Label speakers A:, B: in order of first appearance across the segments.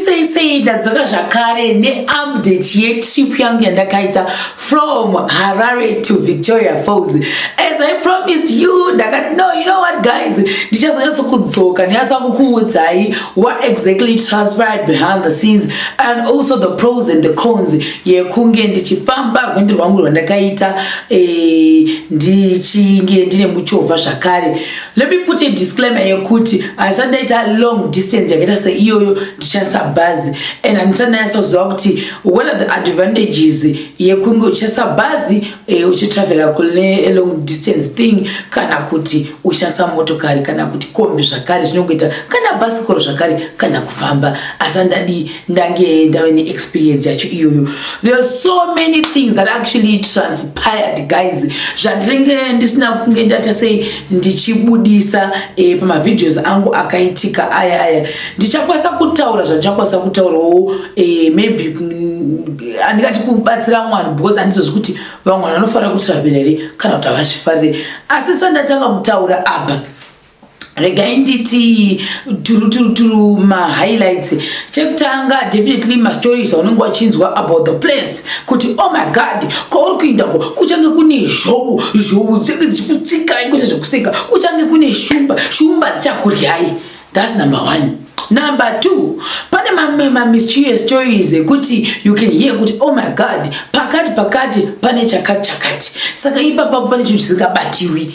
A: sei sei ndadzoka zvakare neupdate yetrip yangu yandakaita from harare to victoria falls as i promised you ndakati no you know what guys ndichazonyatso kudzoka ndinyatsa kukuudzai what exactly transpired behind the scenes and also the pros and the cons yekunge ndichifamba rwendo rwangu rwandakaita eh, ndichinge ndine muchovha zvakare eh, Let me put a disclaimer yekuti haisati ndaita long distance yakaita seiyoyo ndichishandisa bhazi and handisati ndanyatsoziva kuti what are the advantages yekunge uchishandisa bhazi eh, uchitravela kune long distance thing kana kuti uchishandisa motokari kana kuti kombi zvakare zvinongoita kana bhasikoro zvakare kana kufamba asi handadi ndange ndave neexperience yacho iyoyo there are so many things that actually transpired guys zvandinenge ndisina kunge ndata sei ndichibudisa e, pamavideos angu akaitika aya aya ndichakwanisa kutaura zvandichakwanisa kutaurawo e, maybe handingati kubatsira mwana because handizozi kuti vamwana vanofanira kutravela here kana kuti havazvifarire asi sandatanga kutaura apa regai nditi turuturuturu mahighlights chekutanga definitely mastories aunenge wachinzwa about the place kuti oh my god kwauri kuinda ko kuchange kune zhou zhou dzenge dzichikutsikai kwete zvekuseka kuchange kune shumba shumba dzichakuryai thats number one number two pane mamischious stories ekuti you can hear kuti oh my god pakati pakati pane chakati chakati saka ipapapo pane chinhu chisingabatiwi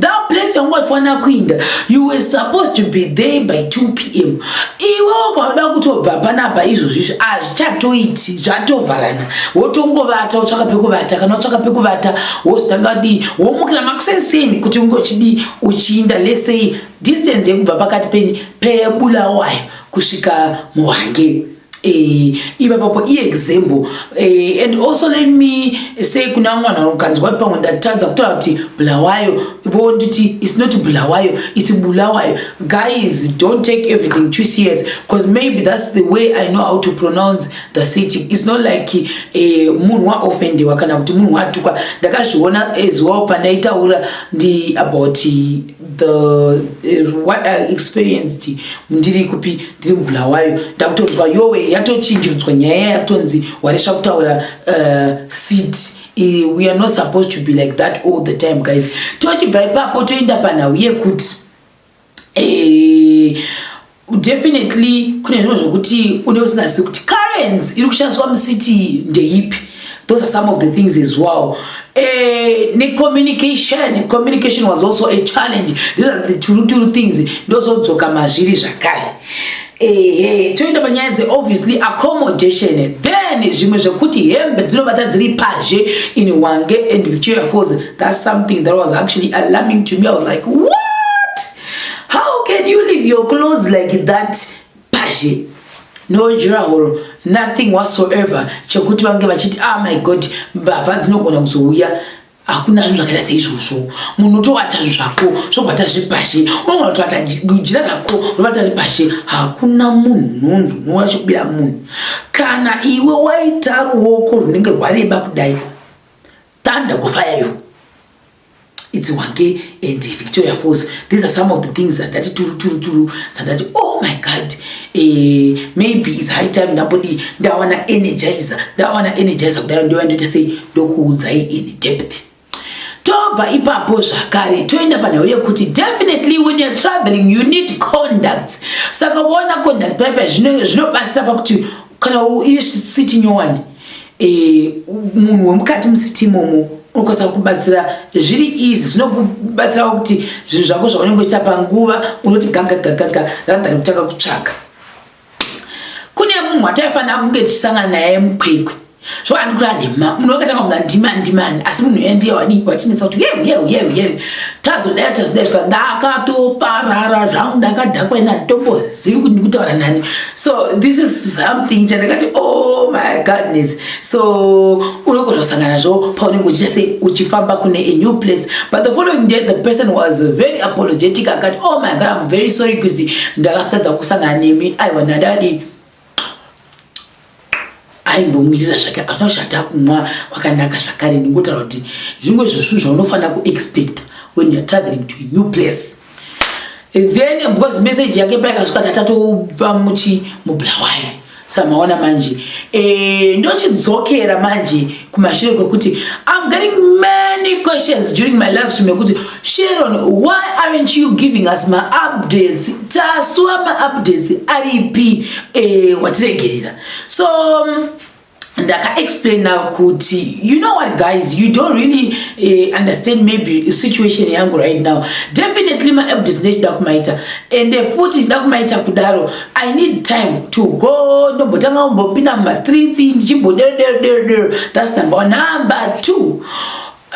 A: that place yangu waifanira kuinda you were supposed to be there by 2 p m iwe ukauda kutobva panapa izvozvi izvi hazvichatoiti zvatovharana wotongovata wotsvaka pekuvata kana wotsvaka pekuvata wozotanga dii womukira makuseseni kuti ungochidii uchiinda lesei distance yekubva pakati penyi pebulawayo kusvika muhangei Eh, ipapapo iexample eh, and also let me say kuna vamwe vanhu vanokanzwa kuti pamwe ndatadza kutaura kuti bulawayo vo nditi its not bulawayo its bulawayo guys don't take everything too serious because maybe thats the way i know how to pronounce the city its not like eh, munhu waofendewa kana kuti munhu watukwa ndakazviona as well pandaitaura ndi about the uh, what i experienced ndiri kupi ndiri mubulawayo ndakutonzwa yowe yatochinjiridzwa nyaya yakutonzi waresva kutaura uh, seat uh, we are not supposed to be like that all the time guys tochibva ipapo toenda panhau yekuti eh, Definitely kune zvimwe zvokuti une usingazivi kuti currency iri kushandiswa mucity ndeipi those are some of the things as well eh, necommunication communication was also a challenge these are the turuturu things ndozodzoka mazviri zvakare ehe toenda panyaya dze obviously accommodation then zvimwe zvekuti hembe dzinobata dziri pazhe in wange and victoria falls that's something that was actually alarming to me i was like what how can you leave your clothes like that pashe no jurahoro nothing whatsoever chekuti vange vachiti ah my god mbavha dzinogona kuzouya hakuna zvinhu zvakaita seizvozvo munhu utovata zvinhu zvako zvobata zvepashe unogona kutovata jira rako rovata zvepashe hakuna munhu unonzi unoona chekubira munhu kana iwe waita ruoko runenge rwareba kudai tanda kufaya yo it's wange and victoria falls these are some of the things dzandati turu turu turu dzandati oh my god eh, maybe its high time ndambodi ndawana energizer ndawana energizer kudai ndoya ndoita sei ndokuudzai in depth tobva ipapo zvakare toenda panhau yekuti definitely when youare traveling you need conducts saka uona conduct paipa zvinobatsira pakuti kana iri siti nyowani eh, munhu wemukati musiti imomo unokwanisa kubatsira zviri izi zvinokubatsirawo kuti zvinhu zvako zvaunenge uchiita panguva unoti gagagagaga rathan kutanga kutsvaka kune munhu wataifanira kunge tichisangana naye mukwekwe so andikura nhema munhu wakatanga kuva ndima ndimani asi munhu yeye ndiye wadii wachinetsa kuti yeu yeu yeu yeu tazodai tazodai zvika ndakatoparara zvangu ndakadhakwa ina ndombozivi kuti ndikutaura nani so this is something chandakati oh my godness so unogona kusangana zvo paunenge uchiita sei uchifamba kune a new place but the following day the person was very apologetic akati oh my god im very sorry because ndakasitadza kusangana nemi aiwa ndadadii aimbomirira zvake azvina zvata kumwa kwakanaka zvakare ndingotaura kuti zvimwe zvesvunhu zvaunofanira kuexpecta when youare traveling to a new place then because message yake payakasvika tatatopa muchi mublawayo samaona manje eh, ndochidzokera manje kumashure kwekuti i'm getting many questions during my live stream yekuti sharon why aren't you giving us maupdates tasua maupdates aripi eh, watiregerera so um, ndakaexplaina kuti you know what guys you don't really uh, understand maybe situation yangu right now definitely maupdates ndechida kumaita ende futi chida kumaita kudaro I need time to go ndombotanga kumbopinda mumastreets ndichimboderoderoderodero that's number one number two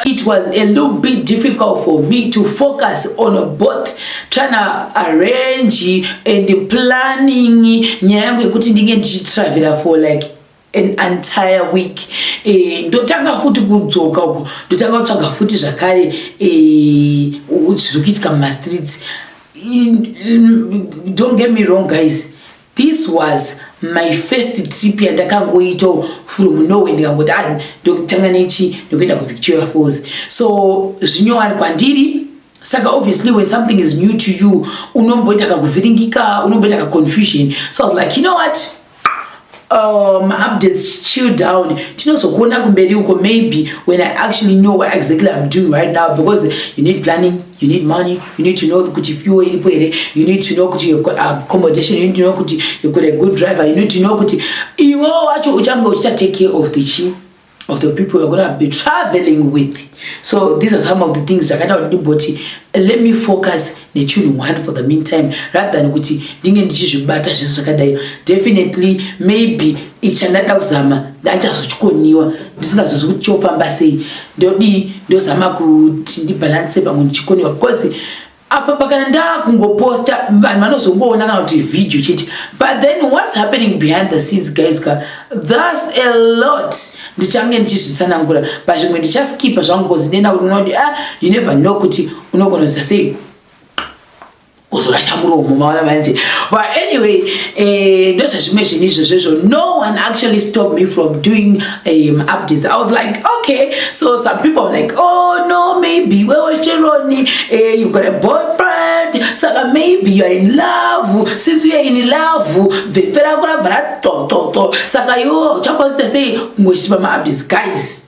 A: it was a little bit difficult for me to focus on both trying to arrange and planning nyaya yangu yekuti ndinge ndichitravela for like an entire week eh, ndotanga futi kudzoka uko ndotanga kutsvaga futi zvakare eh, zvokuitika mumastreets don't get me wrong guys this was my first trip yandakangoita from norway ndikangoti a ah, ndokutanga nechi ndokuenda kuvictoria falls so zvinyowani kwandiri saka obviously when something is new to you unomboita kakuvhiringika unomboita kaconfusion so i was like you know what Uh, maupdates chill down tinozokuona kumberi uko maybe when i actually know what exactly i'm doing right now because you need planning you need money you need to know kuti fuel iripo here you need to know kuti you've got accommodation you need to know kuti you've got a good driver you need to know kuti iwo wacho uchange uchitatake care of the chi of the people we're gonna be traveling with so these are some of the things zvakaita kuti ndimboti let me focus nechinhu one for the meantime rather than kuti ndinge ndichizvibata zvese zvakadai definitely maybe ichandada kuzama ndandichazochikoniwa ndisingazozi kuti chofamba sei ndodii ndozama kuti ndibhalanse pamwe ndichikoniwa because apa pakana ndakungoposta vanhu vanozongoona kana kuti video chete but then whats happening behind the scenes guys ka thus a lot ndichange ndichizvitsanangura pazvimwe ndichaskipa zvangu bcause ndenda kuti unoona kuti ah you never know kuti unogona kuza sei kuzorasha muromo maona manje but anyway eh, ndozvazvimwe zvinhu izvozvo izvo no one actually stop me from doing um, updates i was like okay so some people were like oh no maybe weocheroni uh, eh, you've got a boyfriend saka maybe you're in love since you're in love bvepfe rako rabva ratototo saka iwo uchakwanisa sei ngochichipa maupdates guys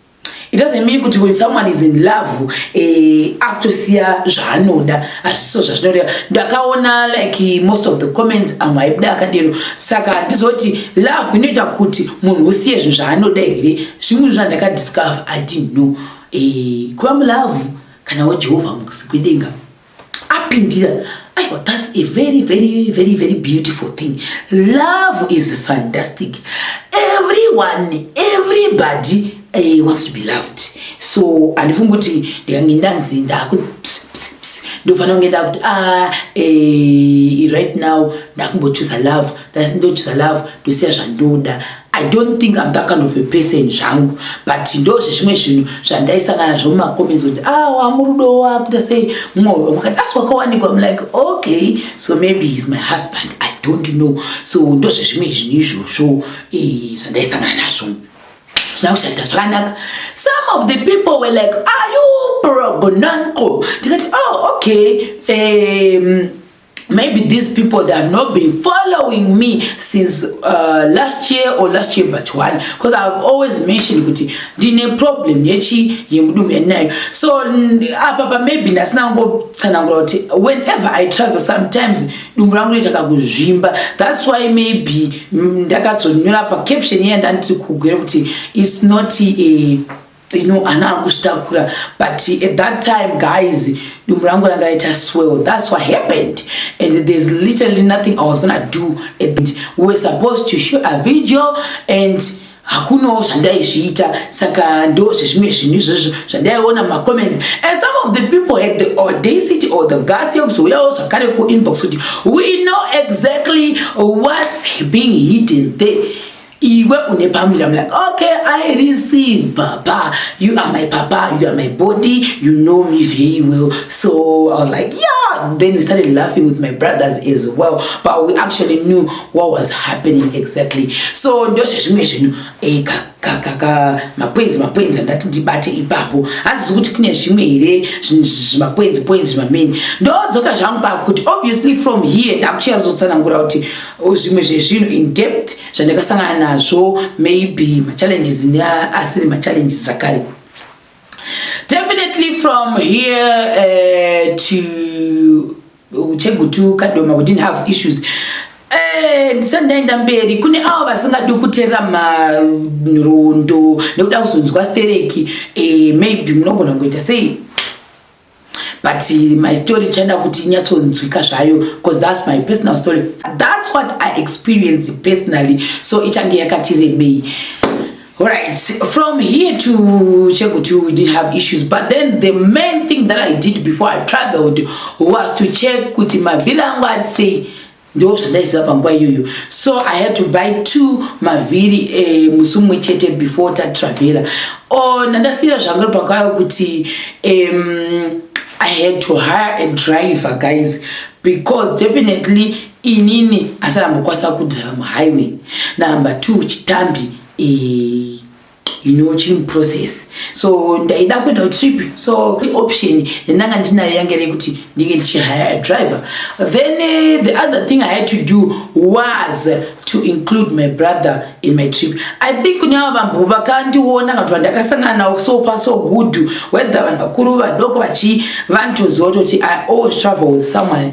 A: it doesn't mean kuti when someone is in love eh, akutosiya zvaanoda asi so zvazvinoreva ndakaona like most of the comments amwe aibuda akadero saka handizoti love inoita kuti munhu usiye zvinhu zvaanoda here zvimwe zvandakadiscover i didn't know e, kuva mulove kana wajehovha mukusi kwedenga apindira aiwa thats a very very very very beautiful thing love is fantastic everyone everybody He wants to be loved so handifungi kuti ndikange ndanzi ndaku ndofanira kunge ndakuti a ah, eh, right now ndakumbochuza love ndochuza love ndosiya zvandoda i don't think im that kind of a person zvangu but ndo zvezvimwe zvinhu zvandaisangana nazvo mumacomments kuti a ah, wamurudo wakuita sei mumwe makati asi wakawanikwa im like okay so maybe heis my husband i don't know so ndo zvezvimwe zvinhu izvozvo eh, zvandaisangana nazvo zvakushanda zvakanaka some of the people were like are you progonanco ndikati oh okay um, maybe these people they have not been following me since uh, last year or last year but one because i have always mentioned kuti ndine problem yechi yemudumu yandinayo so apapa maybe ndasinangotsanangura kuti whenever i travel sometimes dumbu rangu rinoita kakuzvimba thats why maybe mm, ndakazonyora pacaption iya ndandiri kugwira kuti its not a eh, you know ana akuzvitakura but at that time guys dumbu rangu ranga raita swell thats what happened and there's literally nothing i was gonna do at we were supposed to shoot a video and hakunawo zvandaizviita saka ndo zvezvimwe zvinhu izvozvo zvandaiona mumacomments and some of the people had the audacity or the gas yekuzouyawo zvakare kuinbox kuti we know exactly whats being hidden there iwe une pamira I'm like okay I receive papa you are my papa you are my body you know me very well so I was like yeah then we started laughing with my brothers as well but we actually knew what was happening exactly so ndozvezvimwe zvinhu eh, mapoinzi mapoinzi andati ndibate ipapo hazizi kuti kune zvimwe here zvimapoinzi poinzi zvimameni ndodzoka zvangu pakuti obviously from here ndakuchiyazotsanangura kuti oh, zvimwe zvezvinhu in depth zvandakasangana nazvo maybe machallenges neasiri machallenges zvakare definitely from here uh, to chegutu kadoma we didn't have issues eh, ndisati ndaenda mberi kune avo vasingadi kuterera manrondo nekuda kuzonzwa stereki eh, maybe munogona kuita sei but my story ichaenda kuti inyatsonzwika zvayo because thats my personal story thats what i experience personally so ichange yakati rebei Alright, from here to Chegutu, we did have issues, but then the main thing that I did before I traveled was to check kuti mavhiri angu ari sei ndiwo zvandaiziva panguva iyoyo so i had to buy two mavhiri eh, musi umwe chete before tatravela o ndandasiyira zvanga ri pakayo kuti um, i had to hire a driver guys because definitely Inini asi ambokwasa kudriver muhighway number two chitambi eh, you know chiri muprocess so ndaida kuenda kutrip so option yandanga ndinayo yange rekuti ndinge ndichihire driver then eh, the other thing i had to do was to include my brother in my trip i think kune ava vambo vakandiona kana kuti vandakasangana navo so far so good whether vanhu vakuru vadoko vachi vanotoziva kutoti i always travel with someone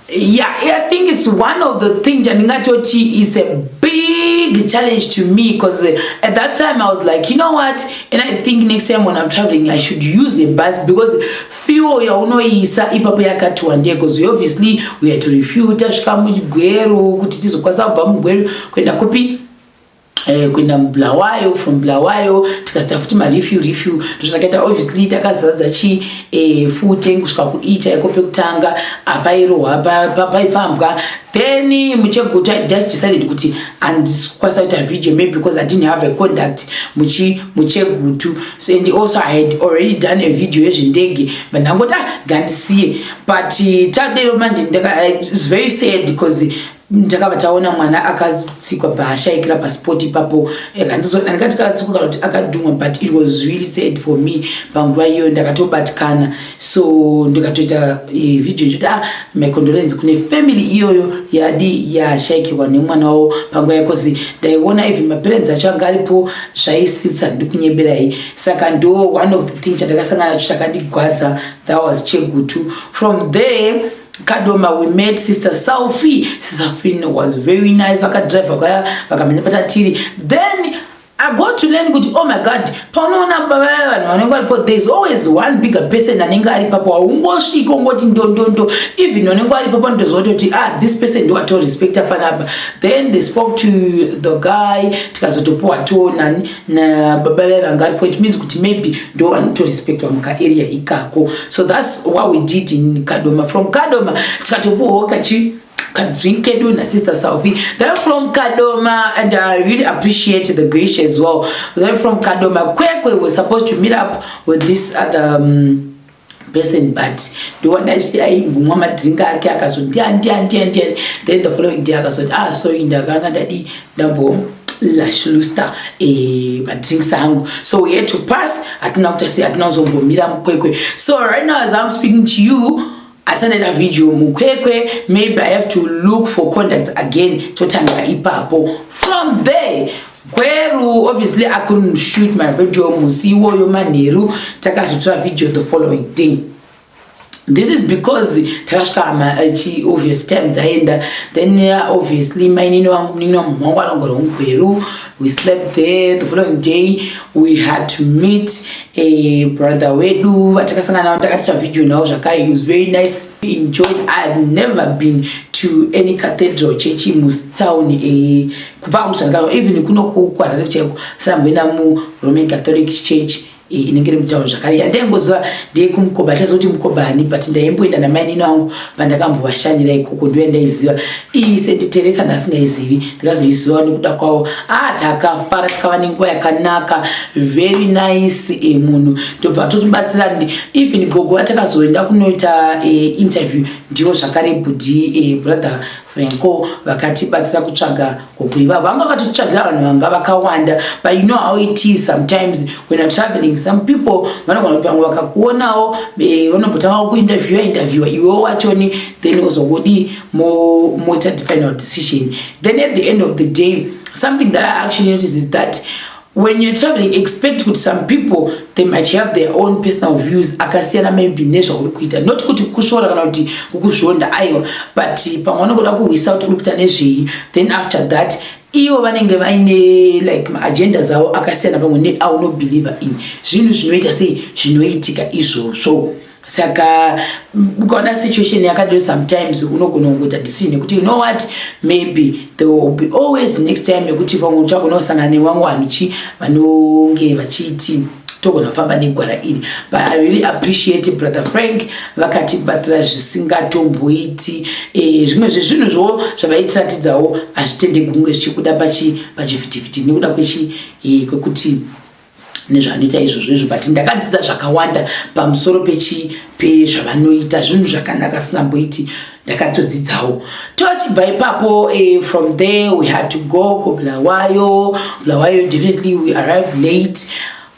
A: Yeah, I think it's one of the things Janingatochi is a big challenge to me because uh, at that time I was like, you know what? And I think next time when I'm traveling, I should use a bus because fuel ya unoisa ipapo yakatiwa ndiye because we obviously we had to refuel tasvika mugweru kuti tizokwanisa kubva mugweru kuenda kupi Eh, kuenda mubulawayo from bulawayo tikasita futi marefu refu ndozvakaita obviously takazadza chi eh, fute kusvika kuita iko pekutanga apairohwa paifambwa then muchegutu i just decided kuti andikwanisa kuita video maybe because i didn't have a conduct muchi muchegutu so and also i had already done a video yezvendege but ndangoti ah, ngandisiye but eh, tadero manje it's very sad because ndakabva taona mwana akatsikwa paashaikira paspot ipapo andikati katsikwa kana kuti akadhumwa but it was really sad for me panguva iyoyo ndakatobatikana so ndikatoita e, video nchoti ah my condolence kune family iyoyo yadi yashaikirwa nemwana wavo panguva yakozi ndaiona even maparents acho anga aripo zvaisitsa ndikunyeberai saka ndo one of the thing chandakasangana nacho chakandigwadza that was chegutu from there kadoma we met sister selfie sister fin was very nice vakadriver kwaya vakamenya patatiri then I go to learn kuti oh my god paunoona baba vanhu vanenge varipo there is always one bigger person anenge ari papo haungosviki ongoti ndondondo even vanenge vari papo ndoziva kuti ah this person ndiwatorespecta panapa then they spoke to the guy tikazotopiwa tonani nababa vaye vanga aripo it means kuti maybe ndo vanotorespectwa mukaarea ikako so thats what we did in kadoma from kadoma tikatopuwawo kachi kadrink kedu nasister salvi then from kadoma and i really appreciate the grace as well then from kadoma kwekwe was supposed to meet up with this other um, person but ndoona achiti aimbomwa madrink ake akazoti ndiani ndiani ndiani ndiani then the following day akazoti ah sorry ndakanga ndadii ndambo lashlusta eh, madrinks angu so we had to pass hatina kuti asi hatina kuzombomira mukwekwe so right now as i'm speaking to you asandaita video mukwekwe maybe i have to look for contacts again totanga ipapo from there Gweru obviously I couldn't shoot my video musi iwoyo manheru takazotora video the following day this is because takasvika amachi eh, obvious time dzaenda then uh, obviously mainini wangu muninini wangu mwangu anogara ungweru we slept there the following day we had to meet a brother wedu vatakasangana navo takaticha video navo zvakare he was very nice enjoyed i have never been to any cathedral church mustown eh, kubva hangu zvandikao even kuno kuharare chaiko sanamboenda muroman catholic church eh, inenge iri mutown zvakare yandaingoziva ndeye kumukoba chaziva kuti mukoba ani but ndaimboenda namainini angu pandakambovashanyira ikoko ndo yandaiziva ii senditeresa ndasingaizivi ndikazoiziva nekuda kwavo a ah, takafara tikava nenguva yakanaka very nice eh, munhu ndobva totibatsira ndi even gogo atakazoenda kunoita uh, interview ndiwo zvakare budi uh, eh, brother franco vakatibatsira kutsvaga gogo ivavo vanga vakatitsvagira vanhu vanga vakawanda but you know how it is sometimes when you're traveling some people vanogona kuti vamwe vakakuonawo uh, vanombotanga kuinterviewa interviewa iwewo wachoni then ozongodi moita mo the final decision then at the end of the day something that i actually notice is that When you're traveling, expect kuti some people they might have their own personal views akasiyana maybe nezvauri kuita not kuti kushora kana kuti kukuzvonda aiwa but pamwe vanongoda kuhwisa kuti uri kuita nezvei then after that ivo vanenge vaine like maagenda zavo akasiyana pamwe neaunobelieve in zvinhu zvinoita sei zvinoitika izvozvo saka ukaona situation yakadiro sometimes unogona kungoita decision yekuti you know what maybe there will be always next time yekuti pamwe uchagona kusangana nevamwe vanhu chi vanonge vachiti togona kufamba negwara iri but i really appreciate brother frank vakatibatira zvisingatomboiti eh, zvimwe zvezvinhu zvowo zvavaitiratidzawo hazvitende gunge zvichikuda pachivhitivhiti nekuda eh, kwekuti nezvanoita izvozvo izvo but ndakadzidza zvakawanda pamusoro pechi pezvavanoita zvinhu zvakanaka sinamboiti ndakatodzidzawo tochibva ipapo eh, from there we had to go kubulawayo bulawayo definitely we arrived late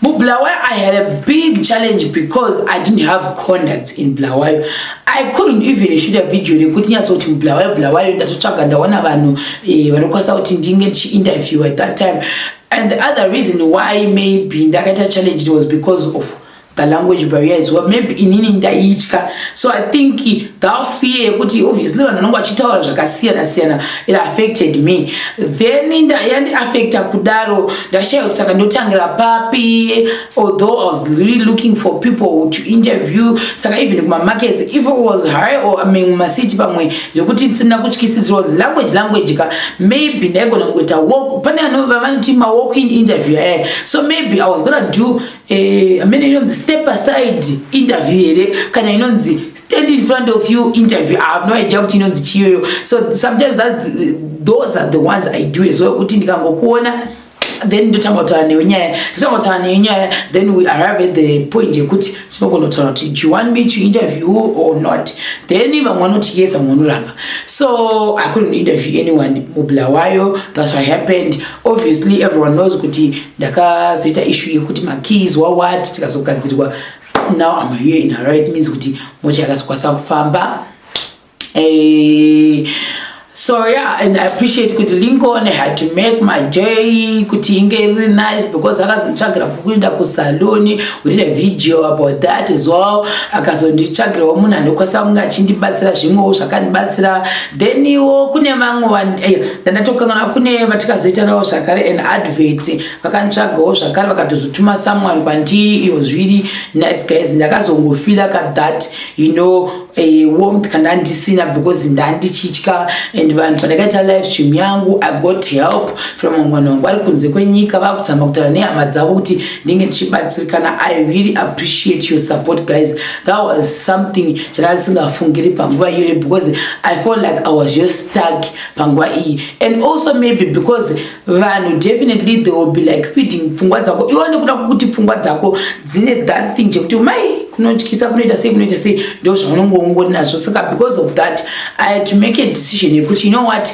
A: mubulawayo i had a big challenge because i didn't have conduct in bulawayo i couldn't even shoot a video rekuti nyatsa kuti mubulawayo bulawayo ndatotsvaga ndaona vanhu eh, vanokwanisa kuti ndinge ndichiinterview at that time And the other reason why maybe ndakaita challenge was because of the language barrier as well maybe inini ndaitya so i think that fear yekuti obviously vanhu vanonge vachitaura zvakasiyana siyana it affected me then yandi affecta kudaro ndashaya kuti saka ndotangira papi although I was really looking for people to interview saka even kuma markets if it was high or I mean ma city pamwe zvekuti tisina kutyisidzirwa zi language language ka maybe ndaigona kuita walk pane anova vanoti ma walk in interview eh so maybe I was gonna do eh amene inonzi step aside interview here kana inonzi stand in front of you interview I have no idea kuti inonzi chiyoyo so sometimes that those are the ones I do as well kuti ndikangokuona then ndotanga kutaura newe nyaya ndotanga kutaura newe nyaya then we arrive at the point yekuti tinogona kutaura kuti do you want me to interview or not then vamwe vanoti yes vamwe vanoramba so i couldn't interview anyone mubla wayo that's what happened obviously everyone knows kuti ndakazoita issue yekuti makeys wawat tikazogadzirirwa now i'm here in a right means kuti mocha yakazokwasa kufamba Hey. so yeah and i appreciate kuti lincoln had to make my day kuti inge iri nice because akazonditsvagira kukuenda kusaloni we did a video about that as well akazonditsvagirawo munhu anokwanisa kunge achindibatsira zvimwewo zvakandibatsira then iwo kune vamwe eh, ndandatokangana kune vatikazoitanawo zvakare an advert vakanditsvagawo zvakare vakatozotuma someone kwandiri iyo zviri nice guys ndakazongofila ka that you know eh, warmth kana ndisina because ndandichitya and vanhu pandakaita live stream yangu i got help from mangwana wangu vari kunze kwenyika vakutamba kutaura nehama dzavo kuti ndinge ndichibatsirikana i really appreciate your support guys that was something chandandisingafungiri panguva iyoyo because i felt like i was just stuck panguva iyi and also maybe because vanhu definitely they will be like feeding pfungwa dzako iwo nekuda kwokuti pfungwa dzako dzine that thing chekuti mai kunotyisa kunoita sei kunoita sei ndo zvaunonge ungori nazvo saka because of that i had to make a decision yekuti you know what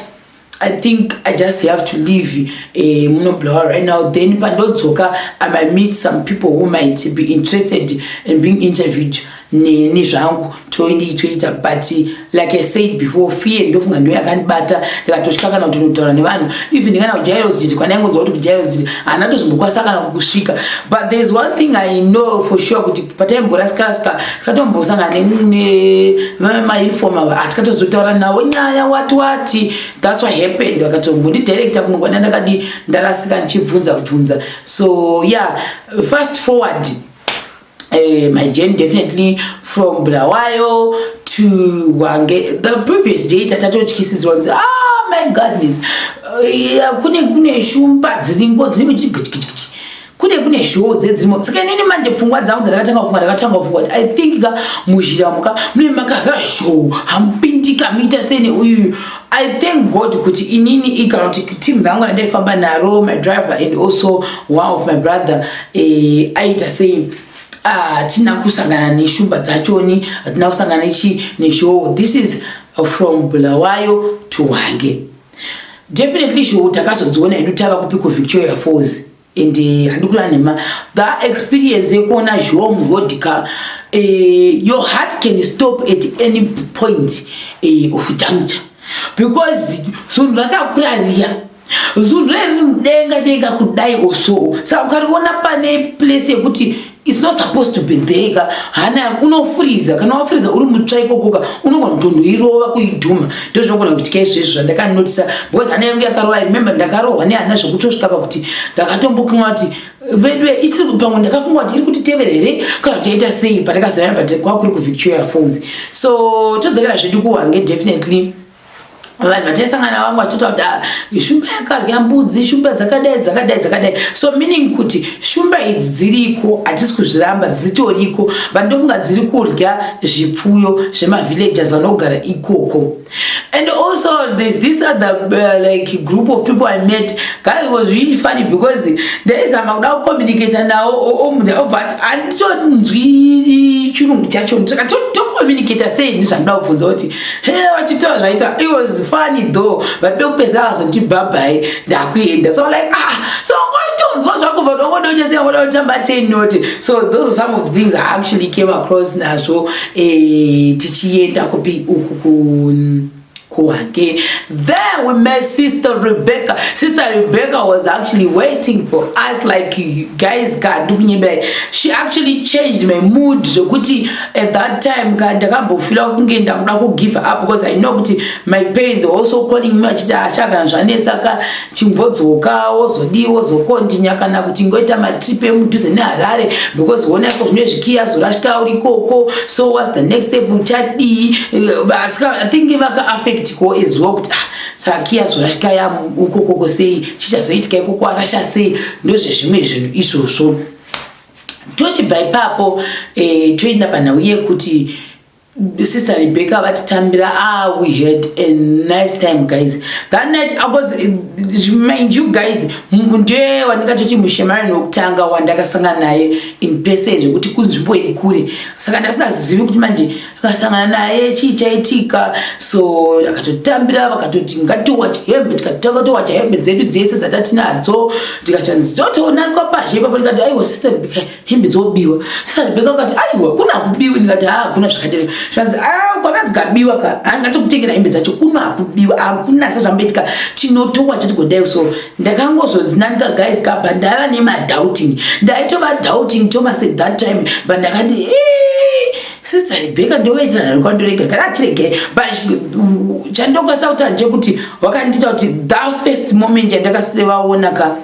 A: i think i just have to leave eh, munoblower right now then pandodzoka i might meet some people who might be interested in being interviewed neni zvangu toidii toita but like i said before fear ndofunga ndo yakandibata ndikatosvika kana kuti unotaura nevanhu even kana kujairoziti kwana yangonzwa kuti kujairoziti hana tozombokwanisa kana kukusvika but there is one thing i know for sure kuti pataimborasikarasika tikatombosangana nemainfom ava hatikatozotaura navo nyaya wati wati thats what happened vakatombondidirecta kuno kwana ndakadi ndarasika ndichibvunza bvunza so yeah fast forward Uh, my journey definitely from Bulawayo to Wange. The previous day, Tatato kisses once. Ah, oh, my goodness. Uh, yeah, kune kune shumba dziringo dziringo chiri kune kune zhoo dzedzimo saka inini manje pfungwa dzangu dzandakatanga kufunga ndakatanga kufunga kuti i think ka muzhira muka mune makazara zhoo hamupindika muita sene uyuyu I thank God kuti inini ikana kuti team rangu randaifamba naro my driver and also one of my brother eh, aita sei hatina ah, kusangana neshumba dzachoni hatina kusangana nechi nezhoo this is from bulawayo to wange definitely zhoo takazodziona edu tava kupi kuvictoria falls and eh, handi kura nhema that experience yekuona zhom rodica eh, your heart can stop at any point eh, of juncture because zunhu rakakura riya zunhu reriri mudenga denga kudai osoo saka ukariona pane place yekuti It's not supposed to be there ka hana unofuriza kana wafuriza uri mutsva ikokoka unogona kutondoirova kuidhuma ndozvinogona kuitika izvezvo zvandakanotisa because hana yangu yakarova remember ndakarohwa nehana zvekutosvika pakuti ndakatombokanga kuti vedu isiri pamwe ndakafunga kuti iri kuti tevera here kana kuti yaita sei patakazivana but kwakuri kuvictoria falls so todzokera zvedu kuwange definitely vanhu vataisangana vamwe vachitaura kuti ah, shumba yakarya mbudzi shumba dzakadai dzakadai dzakadai so meaning kuti shumba idzi dziriko hatisi kuzviramba dzitoriko but ndofunga dziri kurya zvipfuyo zvemavillagers vanogara ikoko and also there's this other uh, like group of people i met guy it was really funny because ndaizama kuda kucommunicata nawo omunhu obva ati handitonzwi chirungu chacho ndikatotokomunicata sei nezvandoda kubvunza kuti Hey, vachitaura zvaita it was funny though but pekupedzisa akazoti bhabhai ndakuenda so like ah so ngotonzwa zvako but wangodonyesera ngoda kutamba ten note so those are some of the things i actually came across nazvo eh, tichienda kupi uku ku kuhake then we met sister rebecca sister rebecca was actually waiting for us like guys ka ndikunyembera she actually changed my mood zvokuti at that time ka ndakambofila kunge ndakuda kugive up because i know kuti my pain the also calling me achiti achagana ah, zvanetsa ka chimbodzoka wozodii wozokondinya kana kuti ngoita matrip emudhuze neharare because wona iko zvine zvikiya zorashika uri ikoko so whats the next step uchadii eh, asi i think vaka affect ko as well kuti ah, saka kiya zorashika ya ukokoko sei chichazoitika ikoko arasha sei ndozvezvimwe zvinhu izvozvo tochibva ipapo eh, toenda panhau yekuti sister rebecca vatitambira ah we had a nice time guys that night because eh, mind you guys ndiye wandingatoti mushemari nokutanga wandakasangana naye in person zvekuti kunzvimbo iri kure saka ndasingazivi kuti manje akasangana naye chii chaitika so akatotambira vakatoti ngatiwacha hembe tikatanga towacha hembe dzedu dzese dzatatinadzo ndikachanzi totoonakwa pazhe ipapo ndikati aiwa sister rebeka hembe dzobiwa sister rebeka ukati aiwa kuna kubiwi ndikati haa kuna zvakadero zvanzi a kwana dzikabiwa ka hangatokutengera hembe dzacho kuna kubiwa hakuna sezvamboitika tinotowacha tigodai so ndakangozozinanika guys ka but ndaiva nemadouting ndaitova douting toma se that time but ndakati ee Sister Rebecca ndovaitira nani kwandoregera kana achiregera but chandokwanisa kuti hanje kuti wakandiita kuti that first moment yandakasivaona ka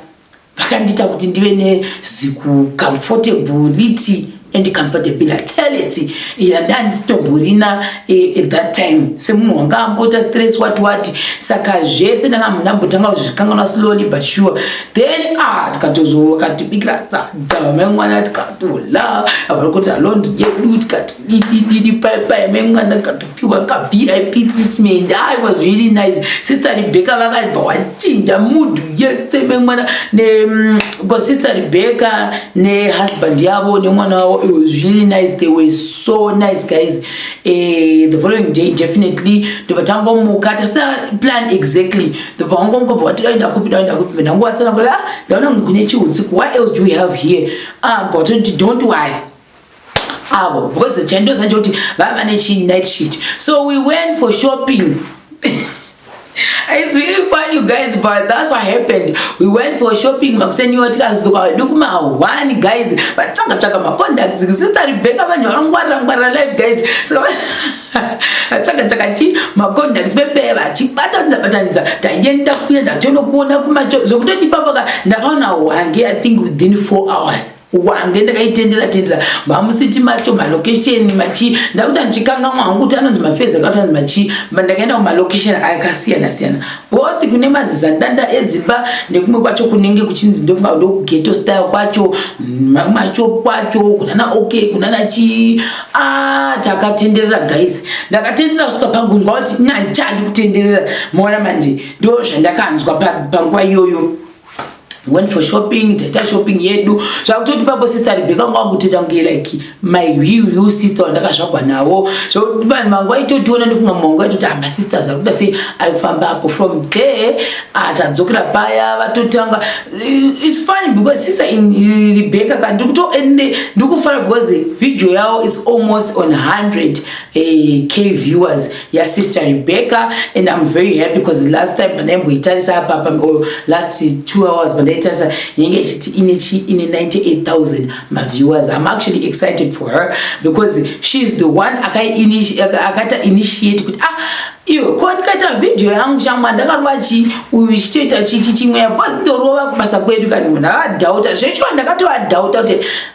A: vakandiita kuti ndive neziku comfortable liti and comfortable tality yandandisitomborina eh, at that time semunhu wanga ambota stress wati wati saka zvese ndanga munambotanga kuzvikanganwa slowly but sure then ah tikatozokatibikira sadza mengwana tikatola avari kuti alondi yedu tikatodidididi paipai mengwana tikatopiwa kavip treatment ai was really nice sister rebecca vakabva wachinja mudhu yese mengwana mm, sister rebecca nehusband yavo nemwana wavo it was really nice they were so so nice guys eh, the following day definitely ndobva tangomuka tasina plan exactly ndobva wangomuka bva wati daenda kupi daenda kupi mbe ndangowatsana kula ah, ndaona kuti kune chiutsiku what else do we have here ah bva watonoti don't worry avo because chandosa nje kuti vava vane chi night shift so we went for shopping It's really fun you guys but that's what happened we went for shopping makuseniwa tikazodzoka wedu kumahwani guys vatsvaga tsvaga macontacts sister rebecca vanhu vakangwarira ngwarira life guys saka vatsvaga tsvaga chi macontacts pepee vachibatanidza batanidza taienda kuenda tonokuona kumacho zvekutoti ipapaka ndakaona hwange i think within four hours wange ndakaitendera tendera mamusiti macho malocation machi ndakuti andichikangamwa hangu kuti anonzi mafezi akati anzi machi ndakaenda kumalocation akasiyana siyana both kune mazizandanda edzimba nekumwe kwacho kunenge kuchinzi ndofunga kudo kugeto style kwacho macho kwacho kunana ok kunana chii a ah, takatenderera guys ndakatenderera kusvika pagunzwa kuti nyanjandi kutenderera maona manje ndo zvandakanzwa panguva iyoyo went for shopping taita shopping yedu zvakutoti papo sister rebeka wanga wakutoita kunge like my wiu sister wandakazvagwa navo zvakuti vanhu vangu vaitotiona ndofunga mwangu vaitoti ah, masisters ari kuda sei ari kufamba apo from there ah, tadzokera paya vatotanga eh, its funny because sister in eh, rebeka ka ndiri kutoende ndiri kufara because video yavo is almost on 100 eh, k viewers ya sister Rebecca and I'm very happy because last time pandaimboitarisa apa or last two hours pandaitarisa yenge ichiti ine chi ine 98000 ma viewers I'm actually excited for her because she's the one akata initiate kuti ah iyo ko ndikaita video yangu shamwa ndakarova chi uyu ichitoita chichi chimwe yapo asi ndorova kubasa kwedu kani munhu avadhauta zvechiwa ndakatoadhauta kuti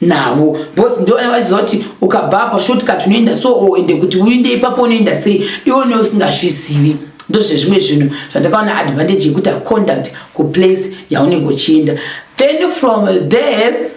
A: navo bos ndovana vachizoti ukabva apa shotka tinoenda so o oh, ende kuti uinde ipapo unoenda sei iwone usingazvizivi ndozvezvimwe zvinhu zvandakaona advantage yekuti aconduct kuplace yaunenge uchienda then from there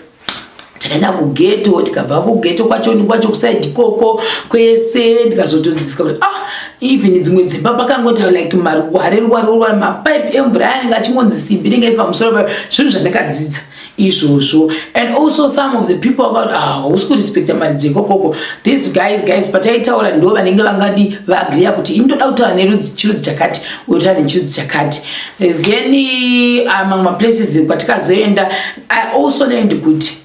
A: takaenda kugeto tikabva kugeto kwacho nikwacho kusaidi koko kwese ndikazotodziska kuti ah even dzimwe dzimba pakangoti like maruware ruware ruware mapipe emvura yanenge achingonzi simbi ringe pamusoro pa zvinhu zvandakadzidza izvozvo and also some of the people about ah, hausi kurespecta maridzo ikokoko these guys guys pataitaura ndo vanenge vangadi vaagriya kuti ini ndoda kutaura nerudzi chirudzi chakati uyotaura nechirudzi chakati eh, then eh, ah, mamwe maplaces kwatikazoenda i also learned kuti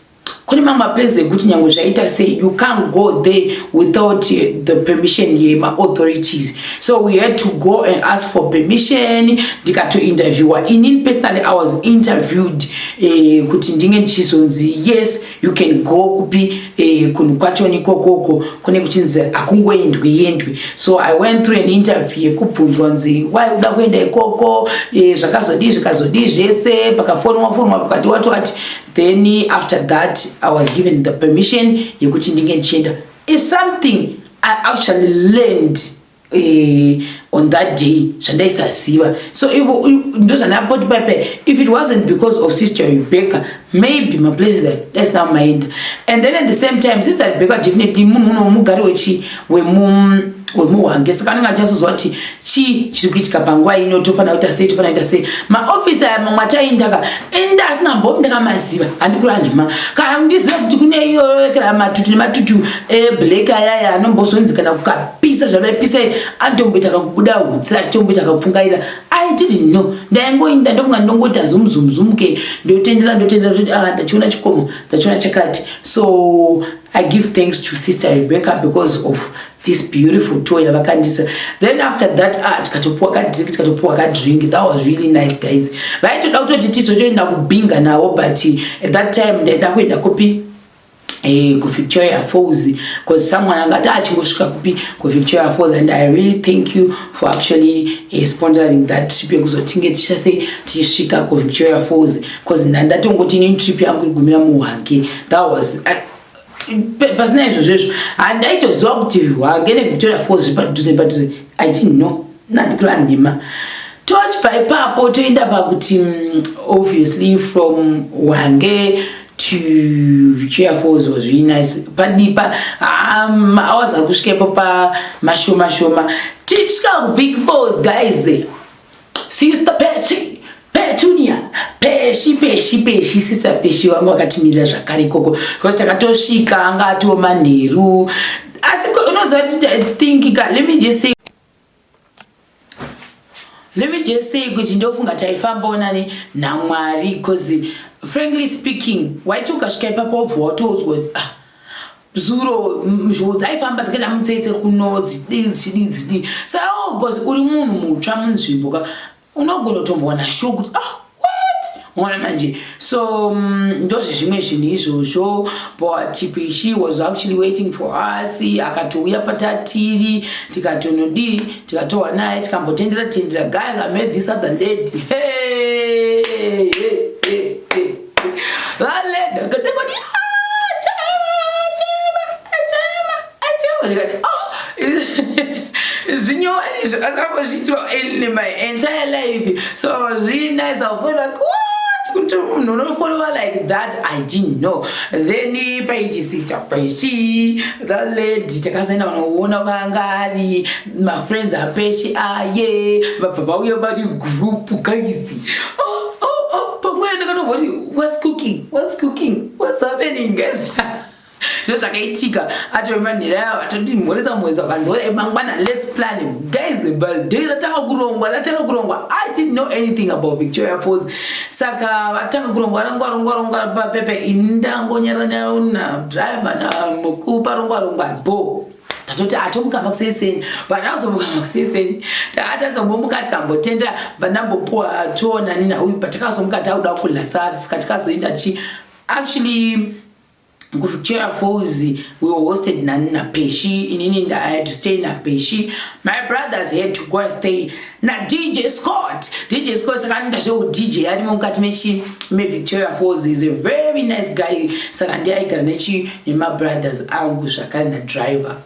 A: kune mamwe maplaces ekuti nyange zvaita sei you can't go there without eh, the permission yemaauthorities so we had to go and ask for permission ndikatointerviewa inini personally i was interviewed eh, kuti ndinge ndichizonzi yes you can go kupi eh, kunhu kwachoni kokoko kune kuchinzi hakungoendwi yendwi so i went through an interview yekubvunzwa nzi why uda kuenda ikoko eh, zvakazodii zvikazodii zvese pakafonwa fonwa pakati wati wati then after that i was given the permission yekuti ndinge ndichienda is something i actually learned eh, on that day zvandaisaziva so ivo ndozvandapoti paipai if it wasn't because of sister rebecca maybe maplaces that's now maenda and then at the same time sister rebecca definitely munhu unomugari wechi wemu wemuhwange saka anenge achazoziva kuti chii chiri kuitika panguva ino tofanira kuita sei tofanira kuita sei maofisi aya mamwe ataindaka enda asina mbopi ndakamaziva handikura nhema kana ndiziva kuti kune iyoyo kana matutu nematutu eblack eh, ayaya anombozonzi kana kukapisa zvavaipisa anotomboita kakubuda hutsi achitomboita kakupfungaira i didn't know ndaingoinda ndofunga ndongoita zumzumzumke ndotendera ndotendera kuti ah ndachiona chikomo ndachiona chakati so i give thanks to sister rebecca because of this beautiful toy yavakandisa then after that ah tikatopuwa kadrink tikatopuwa kadrink that was really nice guys vaitoda kutoti tizotoenda kubinga navo but at that time ndaida kuenda kupi eh, kuvictoria falls bcause someone angati achingosvika ah, kupi kuvictoria falls and i really thank you for actually uh, sponsoring that trip yekuzotinge tichase tichisvika kuvictoria falls bcause ndatongoti ini trip yangu igumira muhwange that was I, pasina izvozvo izvo handaitoziva kuti hwange nevictoria falls zvipadhuze padhuze i didn't know nandikula nhema tochibva ipapo toenda pakuti mm, obviously from hwange to victoria falls was really nice padipa mahours akusvikepo pamashoma shoma tichika kuvik falls guys Sister Pechi, Petunia, Peshi, Peshi, Peshi, Sister Peshi wangu akatimirira zvakare ikoko. Because takatosvika anga atiwo manheru. Asi unoziva kuti I think let me just say Let me just say kuti ndofunga taifambawo nani naMwari because frankly speaking waiti ukasvika ipapo wobva watoudzwa kuti ah zuro mhoo dzaifamba dzikaenda mutsetse kuno dzidii dzichidii dzidii saka oh, bcause uri munhu mutsva munzvimbo ka unogona kutombowana sho kuti ah what mona manje so mm, ndozvezvimwe zvinhu izvozvo btipishi was actually waiting for us akatouya patatiri tikatonodii tikatowa naye tikambotendera tendera guys i made this other lady hey, hey, hey. Valenda akatanga kuti ndikati oh zvinyowani zvakazango zviitwa in my entire life so i was really nice i feel like kuti munhu unofollowa like that i didn't know then paitisita peshi thaledi takasaenda vanoona vangari mafriends apeshi aye vabva vauya vari group guys oh, oh, oh, pamwe ndakatoboti whats cooking whats cooking whats happening guys ndozvakaitika atoremba nhera yavo atoti mhoresa mhoresa vakanzi ore mangwana lets plan guys birthday ratanga kurongwa ratanga kurongwa i didn't know anything about victoria falls saka vatanga kurongwa rongwa rongwa rongwa papepe indangonyaranyaona driver namukupa rongwa rongwa boo tatoti atomukamba ah, kuseseni panazomukaa kuseseni taatazombomuka tikambotenda vanambopuwa toona nina uyu patikazomuka tauda kudla saa sika tikazoenda chi actually kuchera falls we were hosted nani napeshi inini i had to stay napeshi my brothers had to go and stay nadj scott dj scott saka anoita zveudj arimo mukati mechi mevictoria falls is a very nice guy saka ndiye aigara nechi nemabrothers angu zvakare nadriver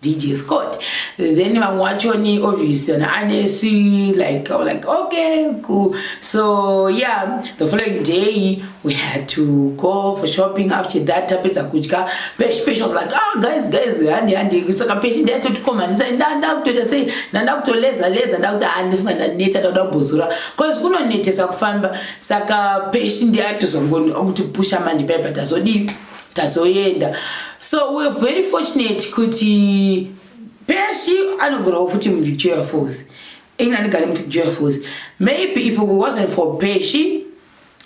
A: dj scott then vamwe wachoni obvious ana anesi like like okay cool so yeah the following day we had to go for shopping after that tapedza kudya peshi peshi was like oh guys guys handi handi saka peshi ndayatotikomanisa ndanda kutoita sei ndanda kutoleza leza ndakuti handifunga ah, ndaneta ndakuda kubhozora bcause kunonetesa kufamba saka peshi ndiyatozongoni okuti pusha manje paya pa tazodii tazoenda so weare very fortunate kuti peshi anogonawo futi muvictoria falls ini andigari muvictoria falls maybe if it wasn't for peshi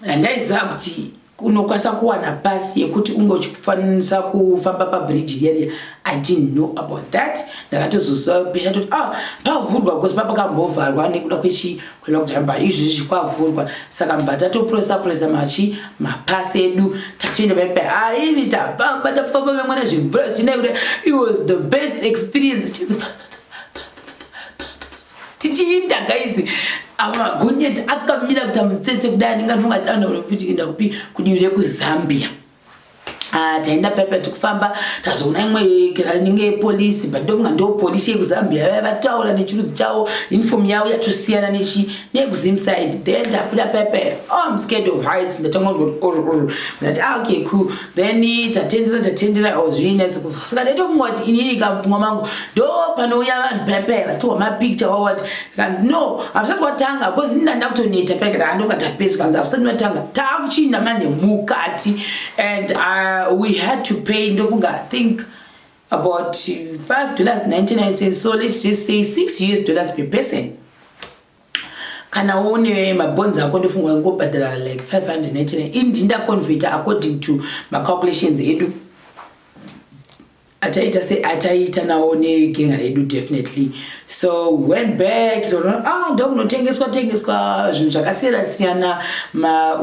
A: handaiziva kuti unokwanisa kuwana pasi yekuti unge uchifanisa kufamba pabridge riya riya i didn't know about that ndakatozoziva pesha toti ah pavhurwa because papakambovharwa nekuda kwechi kwelockdown but izvezvi kwavhurwa saka mba tatopresa presa machi mapasi edu tatoenda paipa haivi ah, tafamba tafamba vemwana zvimvura zvichinaikuti it was the best experience chizifaa tichiinda guys ava gonyeti akamira kuita mutsetse kudai anenge afunga dana unopiinda kupi kudivi rekuzambia ah, taenda paipa tikufamba tazoona imwe inenge yepolisi but ndofunga ndo polisi yekuzambia vaya vataura nechirudzi chavo uniform yavo yatosiyana nechi nekuzimside then tabuda paipa oh, im scared of heights ndatanga ndati ah, okay cool then tatendera tatendera or zvii nese kusvika ndaito funga kuti inini kamupfungwa mangu ndo panouya vanhu payapaya vatiwa mapicture wawati kanzi no hausati watanga bcause ini ndanda kutoneta payakati handonga tapedzi kanzi hausati watanga taakuchiinda manje mukati and uh, we had to pay ndofunga think about 5 dollars 99 cents so let's just say 6 us dollars per person kana une mabonzi ako ndofunga wangobhadhara like 599 indi ndaconveta according to macalculations edu ataita se ataita nawo negenga redu definitely so went back ah, ndokunotengeswa tengeswa zvinhu zvakasiyana siyana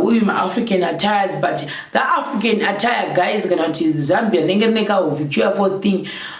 A: uyu maafrican attires but the african attire guys kana kuti zambia rinenge rine kahovicuya force thing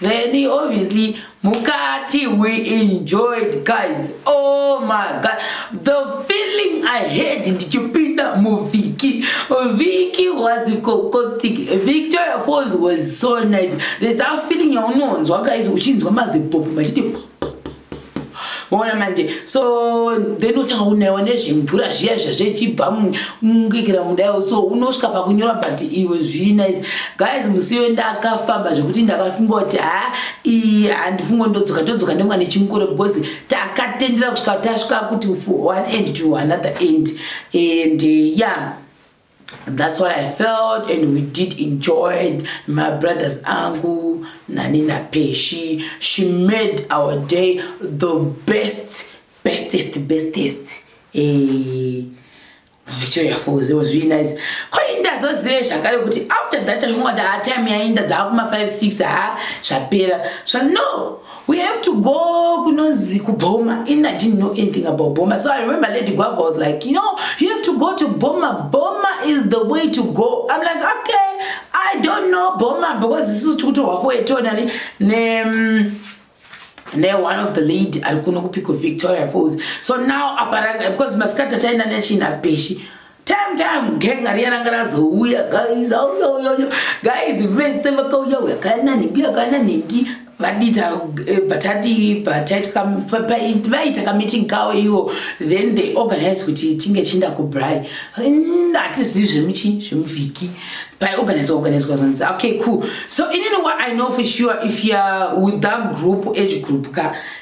A: Then obviously mukati we enjoyed guys. Oh my god. The feeling I had ndichipinda muviki. Viki was cocostic. Victoria Falls was so nice. There's that feeling yaunonzwa guys uchinzwa mazipopo machiti maona manje so then uchanga unaiwa nezvemvura zviya zviya zvechibva mukikira mudaiwo so unosvika pakunyora but iwe zviri nice guys musi iwe ndakafamba zvekuti ndakafunga kuti ha iyi handifunga ndodzoka todzoka nemwa nechimukore because takatendera kusvika tasvika kuti one end to another end and eh, ya yeah. That's what I felt and we did enjoy my brothers Angu, Nanina Peshi. She made our day the best, bestest, bestest. Hey. Eh, Victoria Falls, it was really nice. Kwainda zozive zvakare kuti after that I wanted our time yainda dzakuma 5 6 ha zvapera. So no, We have to go kunonzi kubhoma in I didn't know anything about bhoma so I remember Lady Gwagwa was like you know you have to go to bhoma bhoma is the way to go I'm like okay I don't know bhoma because this is tukutorwa for eternally ne mm, ne one of the lady ari kuno kupiko Victoria Falls so now aparanga because masikati ataenda nechina peshi time time genga riya ranga razouya guys auyoyoyo guys vese vakauya uya kana nhingi akana nhingi vadita eh, vatati vaita kameeting kawo iwo then they organize kuti tinge chinda kubrai hatizivi zvemuchi zvemuvhiki paiorganize organizwa zvanzi okay cool so inini what i know for sure if youare with that group age group ka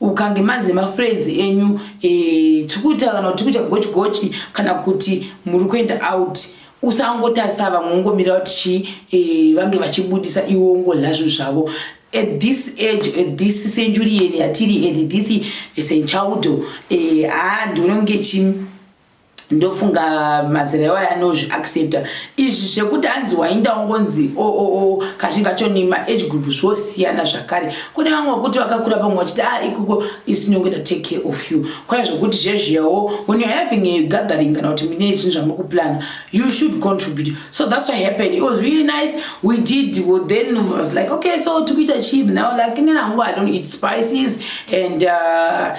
A: ukange manzi nemafriends enyu eh, tiri kuita kana kuti tiri kuita gochi gochi kana kuti muri kuenda out usangotarisa vamwe ungomira kuti chii eh, vange vachibudisa iwo ungodla zvinhu zvavo at this age at this century yeni yatiri and this senchaudo eh, haa ndinonge chii ndofunga mazera iwayo anozviaccepta izvi zvekuti hanzi wainda ungonzi oo oh, oh, oh, kazhinji kacho nemaage group zvosiyana zvakare kune vamwe vekuti vakakura pamwe vachiti a ah, ikoko isinongoita take care of you kwana zvekuti zvezviyawo when youare having a gathering kana kuti mine zvinhu zvamuri kuplana you should contribute so that's what happened it was really nice we did well, then was like okay so tikuita chii now like nina hangu i don't eat spices and uh,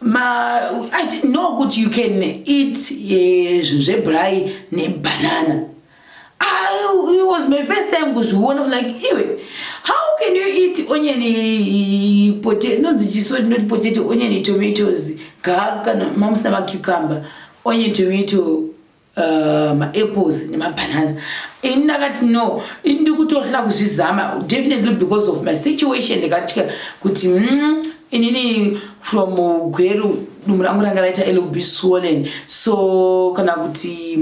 A: ma i didn't know kuti you can eat eh, zvinhu zvebrayi nebanana ah, it was my first time kuzviona like iwe how can you eat onion eh, potato inonzi chiso not potato onion tomatoes gaa kana mamusina macucumber onion tomato Uh, maapples nemabhanana ini ndakati no ini ndikutohla kuzvizama definitely because of my situation ndikatya kuti mm, inini from gweru dumu rangu ranga raita lb swollen so kana kuti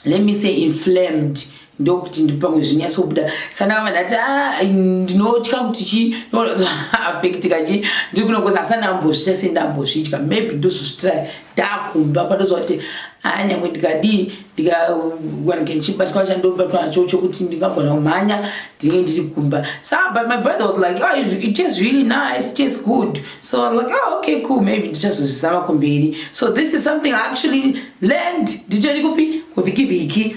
A: let me say inflamed ndokuti ndipamwe zvinyatsobuda sanaka vanhu ati ah, ndinotya kuti chi ndoafektika chi ndiri kunokoza asi andambozvita sei ndambozvitya maybe ndozozvitira ndakumba pandoziva kuti haa nyangwe ndikadii ndikawanike ndichibatwa chandobatwa nacho chokuti ndingagona kumhanya ndinge ndiri kumba so but my brother was like oh, it is really nice it is good so I'm like oh, okay cool maybe ndichazozvizama kumberi so this is something I actually learned ndichoni kupi kuvhiki vhiki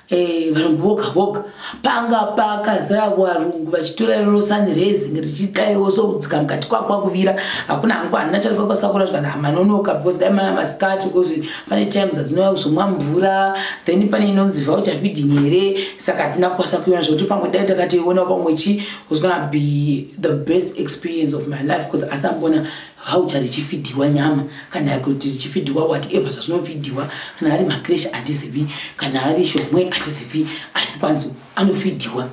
A: Eh, varungu voga voga panga pakazara varungu vachitora rero sanirezing richidaiwo sokudzika mukati kwakwa kuvira hakuna hangu hanina chari kwakasakura zvikana hamanonoka because dai maya masikati because pane times adzinouya kuzomwa mvura then pane inonzi voucher feeding here saka hatina kukwanisa kuiona zvekuti pamwe dai takatoiona pamwe chi was gonna be the best experience of my life because asambona Voucher richifidhirwa nyama kana kuti richifidhirwa whatever zvazvinofidhirwa kana ari makreshi handizivi kana ari shomwe handizivi asi kwanzi anofidhirwa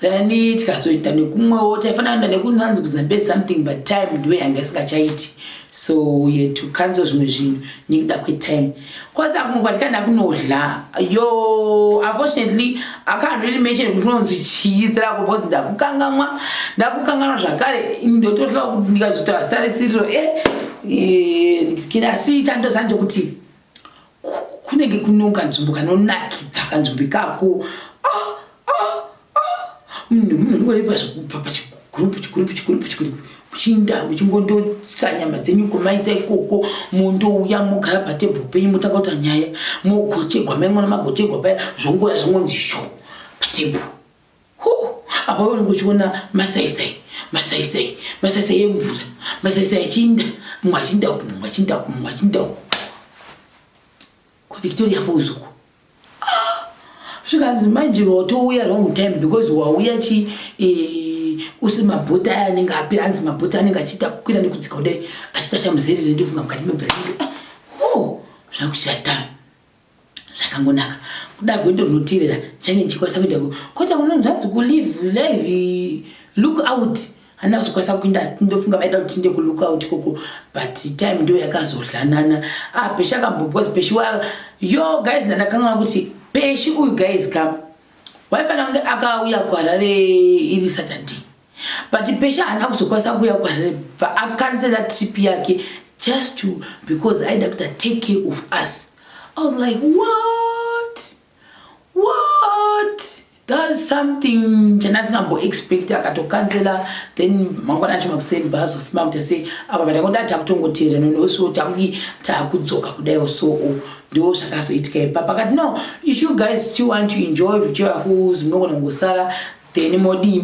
A: then tikazoenda nekumwewo taifanira kuenda nekunanzi kuzambezi something but time ndiwe yanga isingachaiti so ye to cancel zvimwe zvinhu nekuda kwetime Cause akumwe kwatikanda kunodla. Yo, unfortunately, I can't really mention kuti unonzi chii zita rako because ndakukangamwa, ndakukanganwa zvakare ndototla kuti ndikazotaura zita risiriro. Eh, eh, kina si chando sanje kuti kunenge kunoka nzvimbo kanonakidza kanzvimbo ikako. Munhu munhu unongoipa zvekupa pachigroup chigroup chigroup chigroup muchiinda muchingondosa nyama dzenyu kumaisa ikoko mondouya mogara patebho penyu motanga kuta nyaya mogochegwa maingona magochegwa paya zvongoya zvongonzi sho patebho hu apa unenge uchiona masaisai masaisai masaisai emvura masaisai achiinda mumwe achiinda kumwe mumwe achiinda kumwe mumwe achiinda kumwe KwaVictoria Falls uko. Ah, zvikanzi manje watouya wrong time because wauya chi eh, usiri mabhota aya anenge apira anzi mabhota anenge achiita kukwira nekudzika kudai achiita chamuzerere ndivhuna mukati mebhira inge ah, oh, zvakushata zvakangonaka kuda gwendo rinotevera change ndichikwanisa kuenda kota kunonzvanzi kulive live look out handina kuzokwanisa kuinda ndofunga vaida kuti tinde kulook out koko but time ndo yakazodlanana ah peshi akambo because peshi wa yo guys ndandakangana kuti peshi uyu guys ka waifanira kunge akauya kuharare iri saturday but peshi haana kuzokwanisa kuuya kuharare bva akanzela trip yake just to because aida kuti take care of us i was like what what does something chandasingambo expect akatokanzela then mangwana acho makuseni baazofuma kuita sei apa patangoda takutongoteera nonoso takudi takudzoka kudaiwo soo oh, ndo zvakazoitika ipapa kati no if you guys still want to enjoy victoria falls munogona kungosara then modii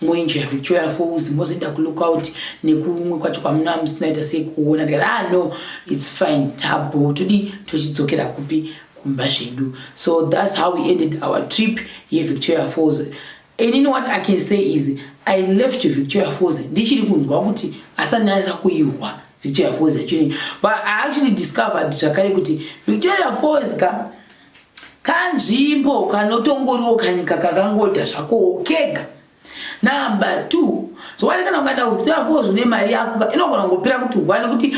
A: moenjoya victoria falls mozoenda kulook out nekumwe kwacho kwamuna musinaita sei kuona ndikati ah no its fine tabo todi tochidzokera kupi kumba zvedu so thats how we ended our trip yevictoria falls inini what i can say is i left victoria falls ndichiri kunzwa kuti asananisa kuihwa victoria falls yachini but i actually discovered zvakare kuti victoria falls ka kanzvimbo kanotongoriwo kanyika kakangoita zvakowo kega number two zvowanikana ukaenda kuvictoria falls une mari yako inogona kungopera kuti one kuti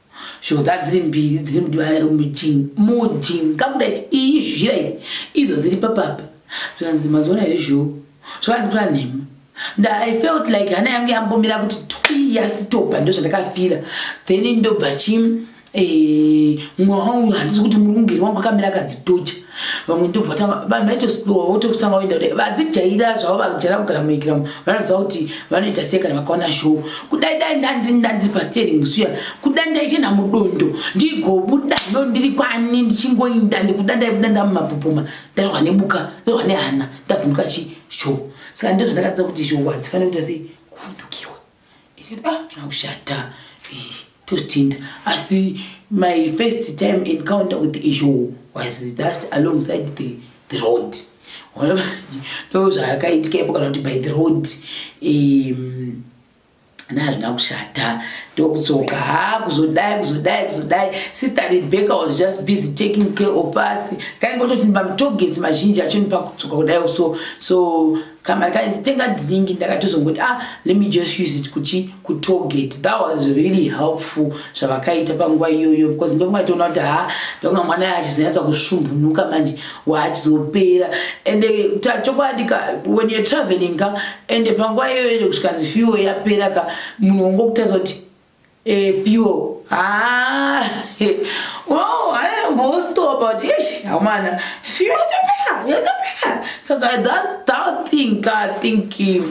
A: Shoko dza dziri mbiri dziri mujini mujini kakuda iyi zhira iyi idzo dziri papapa zvikanzi maziona here zhou zvakandikura nhema nda i felt like hana yangu yambomira kuti twi yasitopa ndo zvandakafira then ndobva chi eh, mwa wangu handisi kuti murungeri wangu akamira akadzitocha vamwe ndobva vatanga vanhu vaitoslowa vototanga voenda kudai vadzijaira zvavo vajaira kugara muikiramo vanoziva kuti vanoita sei kana vakaona show kudai dai ndandiri pastering suya kudai ndaitenda mudondo ndigobuda no ndiri kwani ndichingoinda ndikuda ndaibuda ndamumapopoma ndarwa nebuka ndarwa nehana ndavhunduka chi show saka ndozvandakatsa kuti show hadzifanira kuita sei kuvhundukiwa zvaushata totinda asi my first time encounter with isho was just alongside the, the road ndo zvaakaitika ipo kana kuti by the road um, na hazvina kushata ndokutsoka ha kuzodai kuzodai kuzodai sister rebecca was just busy taking care of us kaingototi ndibamutogets mazhinji achonipa kutsoka kudai so so kamari kainzi tenga drink ndakatozongoti ah let me just use it kuti kutogate that was really helpful zvavakaita panguva iyoyo because ndovanga itoona kuti ha ndovanga mwana ya achizonyatsa kusvumbunuka manje waachizopera ende eh, chokwadi ka when you're traveling ka ende panguva iyoyo kusvikanzi fiwo yapera ka munhu wongokutaza kuti Evio haa oh, anambostopa kuti ish amana fio yatopera yatopera saka that that thing ka think eh,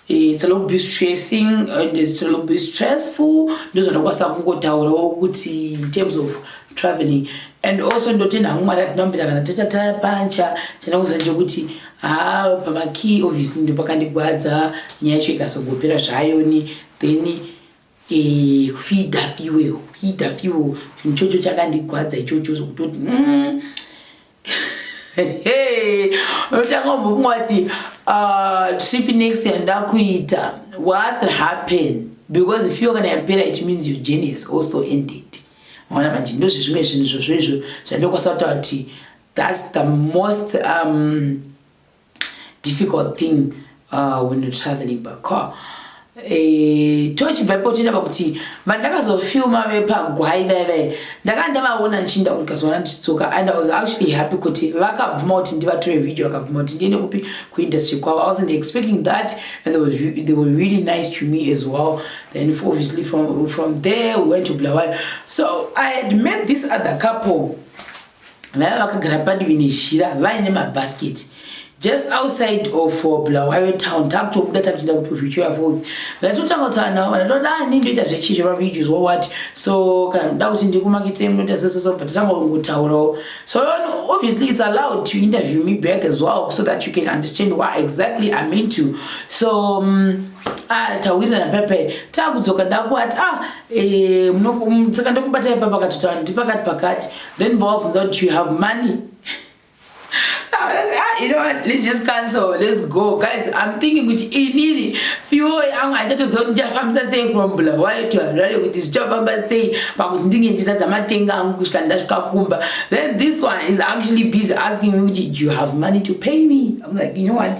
A: it's a little bit stressing and it's a little bit stressful ndozvandakwanisa kungotaurawo kuti in terms of traveling and also ndotenda hangu mwari atinombira kana tatataya pancha tenda kuziva njokuti haa pamakey obviously ndopakandigwadza nyaya yacho ikazongopera zvayoni then eh, kufidha fiwe kufidha fiwe chinhu chocho chakandigwadza ichocho zvokutoti mm. unotanga umbofunga kuti uh, trip next yanda kuita what can happen because if you kana yapera it means your journey is also ended maona manje ndozvezvimwe zvinhu zvozvo izvo zvandokwanisa kutaura kuti that's the most um, difficult thing uh, when you're traveling by car Eh, tochibva ipo tinava kuti vandakazofilma vepagwai vai vai ndakanga ndavaona ndichinda kuti kazoona ndichidzoka and i was actually happy kuti vakabvuma kuti ndivatore video vakabvuma kuti ndiende kupi kuindustry kwavo i wasn't expecting that and they, was, they were really nice to me as well then obviously from, from there we went to blawayo so i had met this other couple vaiva vakagara padivi nezhira vaine mabhasketi just outside of uh, bulawayo town takutobuda takutoenda kuprofituya falls ndatotanga kutaura navo vanatoti a ah, ni ndoita zvechizvo vavideos wawati so kana muda kuti ndikumakitire munoita sesoso but tatanga kungotaurawo so obviously it's allowed to interview me back as well so that you can understand what exactly i'm into so um, Ah, tawirirana pepe takudzoka ndakuati ah, eh, saka ndokubatai papakatotaura ndipakati pakati then vovabvunza kuti do you have money ah, you know what let's just cancel let's go guys i'm thinking kuti inini fuel yangu handichatozia kuti ndichafambisa sei from bulawayo to harare kuti zvichafamba sei pakuti ndinge ndichizadza matenga angu kusvika ndasvika kumba then this one is actually busy asking me kuti do you have money to pay me i'm like you know what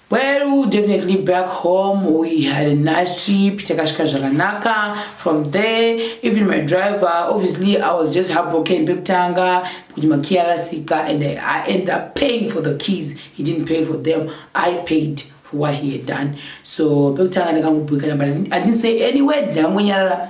A: Well, definitely back home we had a nice trip, takasvika zvakanaka from there, even my driver, obviously I was just heartbroken pekutanga kuti makey arasika and I, I ended up paying for the keys, he didn't pay for them, I paid for what he had done, so pekutanga ndakangobhuyikana but I didn't say any word, ndakangonyarara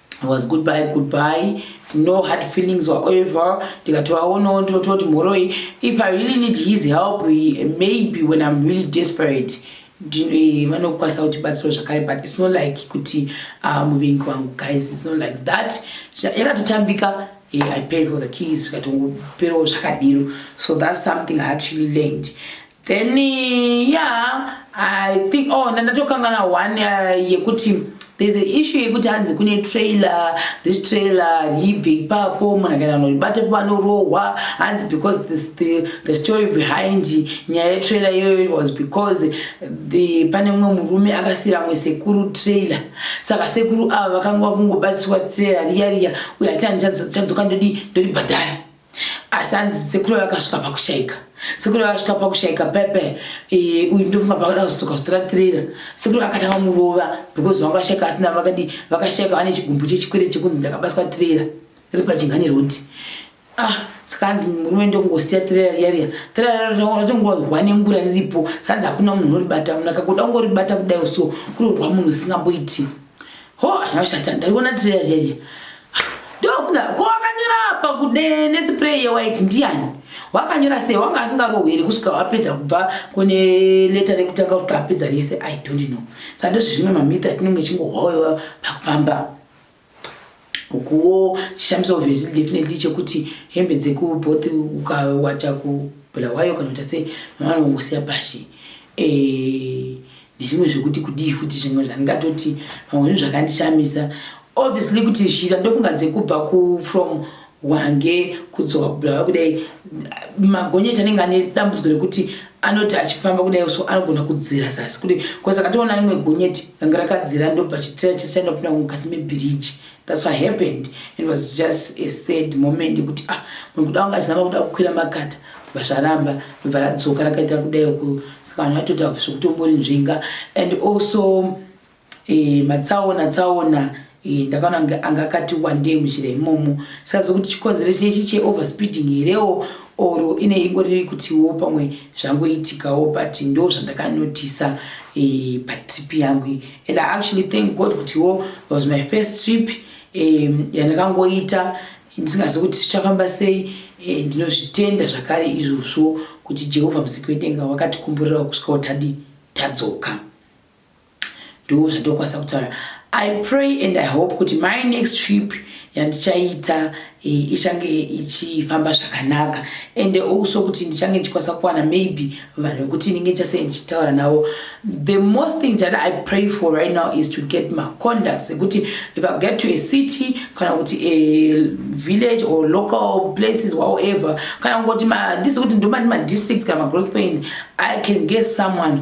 A: was goodbye goodbye no hard feelings whatever ndikatovaonawo ndototi mhoroi if i really need his help maybe when i'm really desperate eh, vanokwanisa kuti batsiro zvakare but it's not like kuti ah, muvengi wangu guys it's not like that yakatotambika eh, i paid for the keys zvikatongoperawo zvakadiro so that's something i actually learned then yeah i think oh ndandatokangana one uh, yekuti uh, there's a issue yekuti hanzi kune trailer this trailer ribve ipapo munhu akaenda noribate panorohwa hanzi because this, the, the story behind nyaya yetrailer iyoyo was because the pane mumwe murume akasiyira mwe sekuru trailer saka sekuru ava vakanga vakungobatiswa trailer riya riya uye hatina ndichadzoka ndodi ndoribhadhara asi hanzi sekuru vakasvika pakushaika sekuru vakasvika pakushaika pepe e, uyu ndofunga pakuda kuzodzoka zvitora tirera sekuru vakatanga murova because vanga vashaika asina vakadi vakashaika vane chigumbu chechikwere chekunzi ndakabatwa tirera riri pachingani roti ah saka hanzi murume ndongosiya tirera riya riya tirera ratongorwa nengura riripo sanzi hakuna munhu unoribata munhu akakuda kungoribata kudai so kunorwa munhu usingamboiti Ho, anoshata. Ndaiona tray yeye. Ndovunda ko wakanyora apa kude ne spray ye white ndiani? Wakanyora sei? Wanga asingarohwere kusvika wapedza kubva kune letter rekutanga kuti apedza rese. I don't know. Sando zvimwe mamita tinenge chingohoyo pakufamba. ukuwo chishamiso obviously definitely chekuti hembe dzekuboth ukawacha kubulawayo kana kuita sei vanongosiya pashi eh, nezvimwe zvekuti kudii futi zvimwe zvandingatoti pamwe zvinhu zvakandishamisa obviously kuti zhira ndofunga dzekubva kufrom wange kudzoka kubulawayo kudai magonyeti anenge ane dambudziko rekuti anoti achifamba kudai so anogona kudzira zasi kudai bcause akatoona rimwe gonyeti ranga rakadzira ndobva chitira chese chaindopinda mukati mebiriji thats what happened it was just a sad moment yekuti ah munhu kuda wanga achizama kuda kukwira makata bva zvaramba ndobva radzoka rakaita kudai ku saka vanhu vatoti akusi kutombori nzvenga and also Eh, matsaona tsaona eh, ndakaona kunge anga akati wandei muzhira imomo sazi kuti chikonzero chinechi cheoverspeeding herewo or ine ingori kutiwo pamwe zvangoitikawo but ndo zvandakanotisa eh, patrip yangu and i actually thank god kutiwo was my first trip eh, yandakangoita ndisingazi kuti zvichafamba sei eh, ndinozvitenda zvakare izvozvo kuti jehovha musiki wedenga wakatikumburirawo kusvikawo tadi tadzoka ndo zvandokwanisa kutaura i pray and i hope kuti my next trip yandichaita e, ichange ichifamba zvakanaka and also kuti ndichange ndichikwanisa kuwana maybe vanhu vekuti ndinge ndichasei ndichitaura navo the most thing that i pray for right now is to get my conducts ekuti if i get to a city kana kuti a village or local places however kana kungoti ndisi kuti ndomati madistrict kana magrowth point i can get someone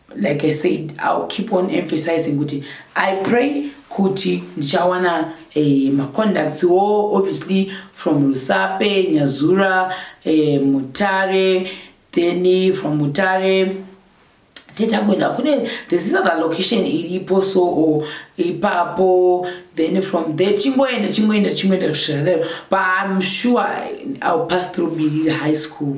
A: like i said ill keep on emphasizing kuti i pray kuti ndichawana eh, macontacts wo obviously from rusape nyazura eh, mutare then from mutare tetagwenda kune this is other location iripo so or ipapo then from there chingoenda chingoenda chingoenda kusvika lero but i'm sure i'll pass through birira high school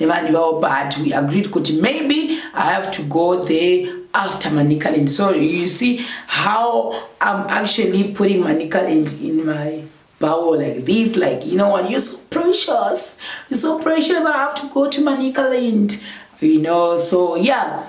A: nevanhu vavo but we agreed kuti maybe i have to go there after manicaland so you see how i'm actually putting manicaland in my bowel like this like you know what you're so precious you're so precious i have to go to manicaland you know so yeah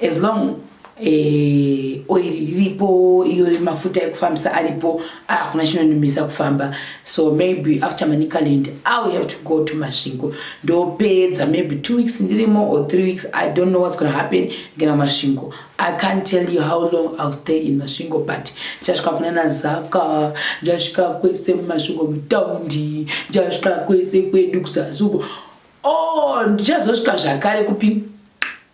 A: as long eh, oil riripo iyo mafuta ekufambisa aripo hakuna ah, chinonumisa kufamba so maybe after manicaland iwill have to go to masvingo ndopedza maybe two weeks ndirimo or three weeks i don't know what's gonna happen ngena masvingo i can't tell you how long iwill stay in masvingo but ndichasvika kuna nazaka ndichasvika kwese mumasvingo mutaundi ndichasvika kwese kwedu kuzazuko o oh, ndichazosvika zvakare kupi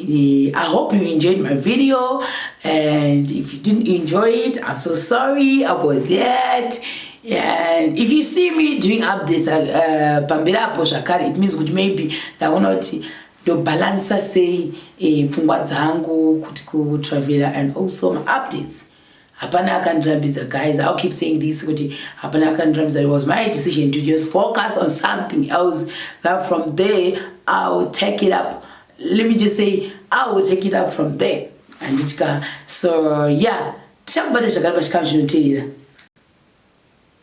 A: Eh, I hope you enjoyed my video and if you didn't enjoy it, I'm so sorry about that. And if you see me doing updates uh, pambira apo zvakare it means kuti maybe ndaona kuti ndobalansa sei eh, pfungwa dzangu kuti kutravela and also my updates. hapana akandirambidza guys ill keep saying this kuti hapana akandirambidza it was my decision to just focus on something else that from there ill take it up let me just say i will take it up from there handitika so yeah tichakubata zvakare pachikamu zvinoteera